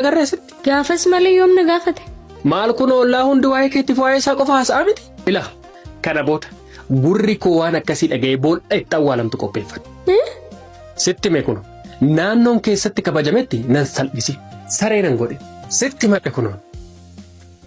agarra asitti. Gaafas malee yoom na gaafate? Maal kun ollaa hundi waa'ee keetti waa'ee isaa qofa haasa'aa miti? Ila kana booda gurri koo waan akkasii dhaga'ee boolla itti awwaalamtu qopheeffadhu. Sitti hime kun naannoon keessatti kabajametti nan salphisi. Saree nan godhe. Sitti himadhe kunoon.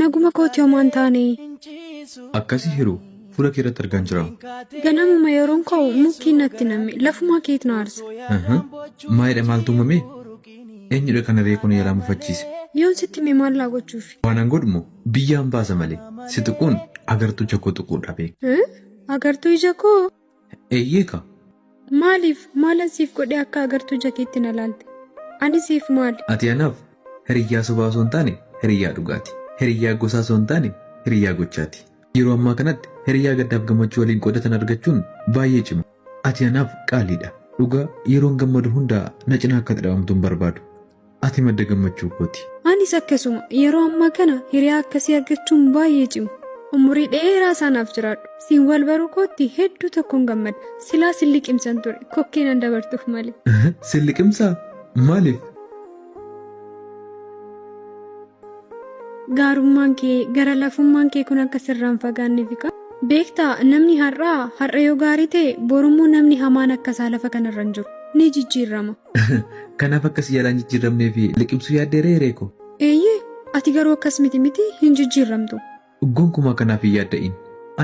Naguma kooti homaa hin taane. Akkasi hiru fuula kee irratti argaan jira. Ganamuma yeroon ka'u mukkiin natti name lafumaa keet na aarsa. Aha, Maalidha maaltu uumame? Eenyudha kana ree kun yalaa mufachiise? Yoon sitti hime maal laa gochuufi? Waanan godhumo biyyaan baasa malee si tuquun agartuu ija koo tuquudha beek. Eh? Agartuu ija koo? Eeyyee ka. Maaliif? Maalan siif godhee akka agartuu ija keetti na laalte? Ani siif maali? Ati anaaf hiriyyaa sobaa osoo hin taane hiriyyaa dhugaati. Hiriyyaa gosaa osoo hin taane hiriyyaa gochaati. Yeroo ammaa kanatti hiriyyaa gaddaaf gammachuu waliin qoodatan argachuun baay'ee cima. Ati anaaf qaaliidha. Dhugaa yeroon gammadu hundaa na cinaa akka ati dhabamtu hin barbaadu. Ati madda gammachuu kooti. Anis akkasuma yeroo ammaa kana hiriyaa akkasii argachuun baay'ee cima. Umurii dheeraa isaanaaf jiraadhu. Siin wal baruu kootti hedduu tokkoon gammadha. Silaa sin liqimsan ture kokkee nan dabartuuf malee. Sin liqimsaa? Maaliif? Gaarummaan kee gara lafummaan kee kun akka sirraan fagaanneef qaba. Beektaa namni har'aa har'a yoo gaarii ta'e borummoo namni hamaan akka isaa lafa kanarra hin jiru ni jijjiirrama. Kanaaf akka si jalaa hin jijjiirramnee fi liqimsuu yaaddee ree hiree koo. Eeyyee, ati garuu akkas miti miti hin jijjiirramtu. Gonkumaa kanaaf hin yaadda'in.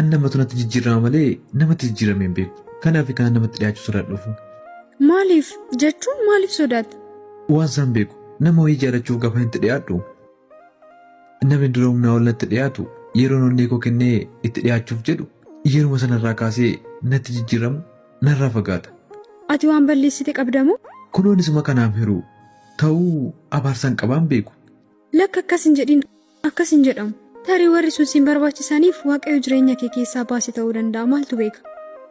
An namatu natti jijjiirrama malee namatti jijjiiramee hin beeku. Kanaaf kana namatti dhiyaachuu sodaadhuuf. Maaliif jechuun maaliif sodaatta? Waan isaan beeku nama wayii jaalachuuf gafan itti dhiyaadhu Namni dura humnaa ol natti dhiyaatu yeroon onnee koo kennee itti dhiyaachuuf jedhu yeruma sanarraa kaasee natti jijjiiramu narraa fagaata. Ati waan balleessite qabdamoo? Kunoon isuma kanaaf hiruu ta'uu abaarsan qabaan beeku. Lakka akkas hin jedhin akkas hin jedhamu. Tarii warri sun siin barbaachisaniif waaqayyo jireenya kee keessaa baase ta'uu danda'a maaltu beeka.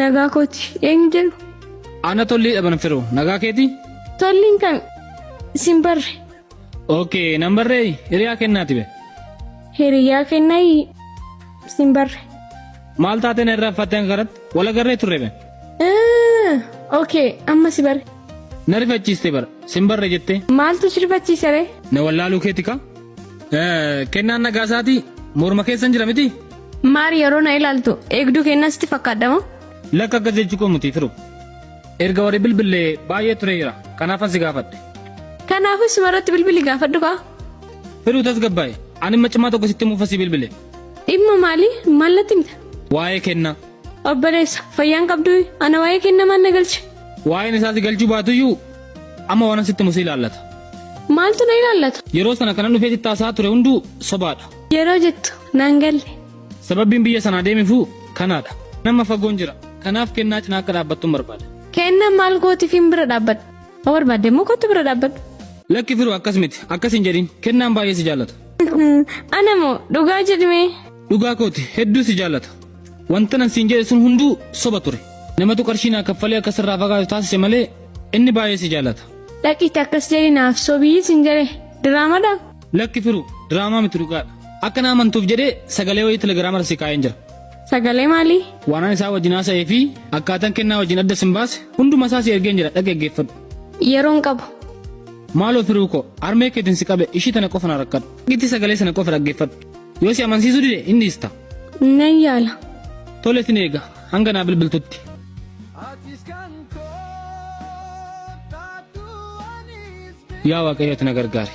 Nagaa kooti eenyu jedhu? Ana tollii dhaban firoo nagaa keeti? Tolliin kan sin barre. Ookee nan barree hiriyaa kennaati be. Hiriyaa kennayi sin barre. Maal taatee na irraa uffattee hanga kanatti wal agarree turre be. Ookee amma si barre. Na rifachiiste bara sin barre jettee. Maaltu si rifachiise ree? Na wallaaluu keeti kaa. Kennaan nagaa isaatii morma keessan jira miti? Maari yeroo na ilaaltu eegduu kennaa sitti fakkaadha moo? Lakka akkas jechuu koo mutii firu. Erga warri bilbillee baay'ee tureera. Kanaafan si gaafadhe. Kanaafuu isuma irratti bilbili gaafadhu kaa. Firuu tasgabbaa'e. Ani dhimma cimaa tokko sitti muufasii bilbile. Dhimma maali? Maal natti himta? Waa'ee kenna. Obboleessa fayyaan qabduu ana waa'ee kenna maal na galche? Waa'een isaa si galchuu baatuyyuu amma waanan sitti musi ilaallata. Maaltu na ilaallata? Yeroo sana kanan dhufee sitti haasaa ture hunduu sobaadha. Yeroo jettu naan galle. Sababbiin biyya sanaa deemifuu kanaadha. Nama fagoon jira. Kanaaf kennaa cinaa akka dhaabbattun barbaada. Keenna maal gootifiin bira dhaabbadhu. Yoo barbaadde immoo kottu bira dhaabbadhu. Lakki Firoo akkas miti. Akkas hin jedhin. Kennaan baay'ee si jaallata. Ana moo dhugaa jedhimee. Dhugaa kooti hedduu si jaallata. Wantanan siin jedhe sun hunduu soba ture. Namatu qarshii naa kaffalee akka sirraa fagaatu taasise malee inni baay'ee si jaallata. Dhaqiitti akkas jedhi naaf sobii sin jedhe diraamadha. Lakki firu diraamaa miti dhugaadha. Akka na amantuuf jedhee sagalee wayii telegiraama irra si kaa'een jira. Sagalee maalii? Waanan isaa wajjin haasa'ee fi akkaataan kennaa wajjin adda sin baase hunduma isaa si ergeen jira dhaqi dhaggeeffadhu. Yeroon qabu. Maaloo firuu koo harmee keetiin si qabe ishii tana qofa na rakkadhu. Itti sagalee sana qofa dhaggeeffadhu. Yoo si amansiisuu dide inni ista. Nan yaala. Tole sin eega hanga naa bilbiltutti. Yaa waaqayyooti na gargaari.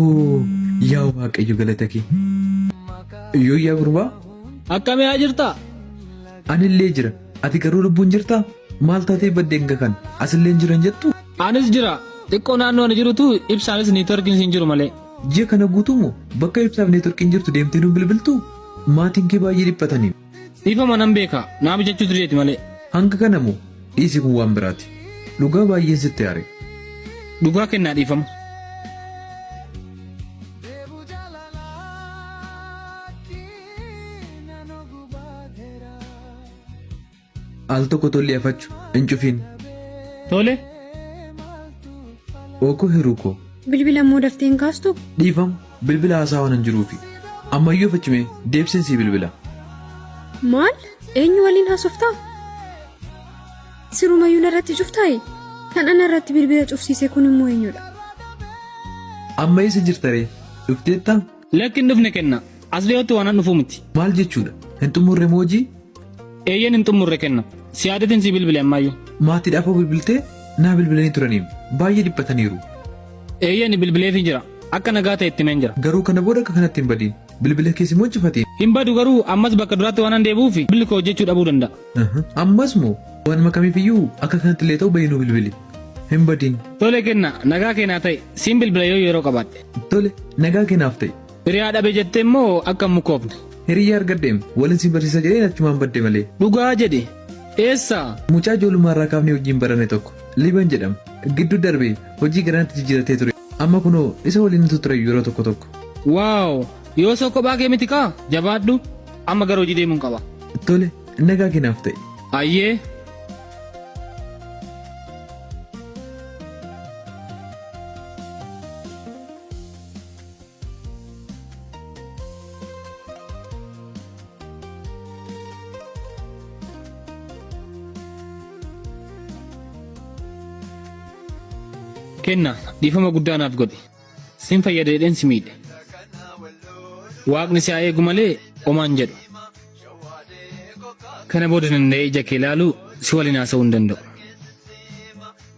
Oo yaa waaqayyo galata kee. Iyyuu yaa gurbaa Akkamii haa jirtaa? anillee jira ati garuu lubbuun jirtaa maal taatee baddeen kakan asillee jiran jettu Anis jira. Xiqqoo naannoo ani jirutu ibsaanis niitworkiin siin jiru malee. ji'a kana guutuumoo bakka ibsaaf neetworkiin jirtu deemtee nu bilbiltu maatiin kee baay'ee dhiphataniin. Dhiifama nan beeka naa mijachuu dideeti malee. Hanga kana moo? Dhiisi kun waan biraati. Dhugaa baay'een sitti aare. Dhugaa kennaa dhiifama. Al tokko tolli afachu hin cufiin. Tole. Ookoo hiruu koo. Bilbila immoo dafteen kaastu? Dhiifama. Bilbila haasaa waanan jiruufi. Ammayyuu afachi mee, deebiseen sii bilbila. Maal? Eenyu waliin haasoftaa? Sirumayyuu narratti cuftaayi? Kan ana irratti bilbila cufsiise kun immoo eenyudha? Amma eessa jirta ree? Dhufteettaa? Lakki hin dhufne kenna. As dhiyootti waanan dhufuu miti. Maal jechuudha? Hin xumurre moo hojii? Eeyyeen hin xumurre kenna. Siyaadatiin sii bilbile ammaayyu. Maatiidhaaf hoo bilbiltee? Naa bilbilanii turaniim. Baay'ee dhiphataniiru. Eeyyeen bilbileefii jira. Akka nagaa ta'e itti himeen jira. Garuu kana booda akka kanatti hin badiin. Bilbila kees immoo hin cufatiin. Hin badu garuu ammas bakka duraatti waanan deebi'uuf bilbilli koo hojjechuu dhabuu danda'a. Aha. Ammas moo waanuma kamiifiyyuu akka kanatti illee ta'u bahii nuu bilbili. Hin badiin. Tole kenna nagaa keenaa ta'e siin bilbila yoo yeroo qabaadhe. Tole nagaa keenaaf ta'e. Hiriyaa dhabe jette immoo akka hin mukoofne. Hiriyyaa argadheem walin si barsiisa jedheen achumaan badde malee. Dhugaa jedhi. Eessa? Mucaa ijoollummaa irraa kaafnee wajjin baranne tokko. Liiban jedhama. Gidduu darbe hojii gara natti jijjiiratee ture. Amma kunoo isa waliin utuu ture yeroo tokko tokko. Waaw! Yoo soo kophaa kee miti kaa? Jabaadhu. Amma gara hojii deemuun qaba. Tole nagaa keenaaf ta'e. Ayyee. Kenna dhiifama guddaa naaf godhi. Sin fayyada jedheen si miidhe. Waaqni si haa eegu malee omaan jedhu. Kana booda danda'ee ija kee ilaaluu si waliin haasa'uu hin danda'u.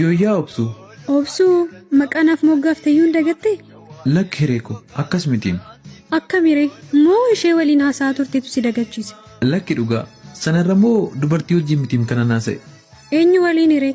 Yooyyaa obsuu. Obsuu maqaa naaf moggaafte iyyuu hin dagatte? Lakki hiree koo akkas mitiin. Akkamire moo ishee waliin haasa'aa turtetu si dagachiise? Lakki dhugaa sanarra moo dubartii wajjin mitiim kanan haasa'e. Eenyu waliin hiree?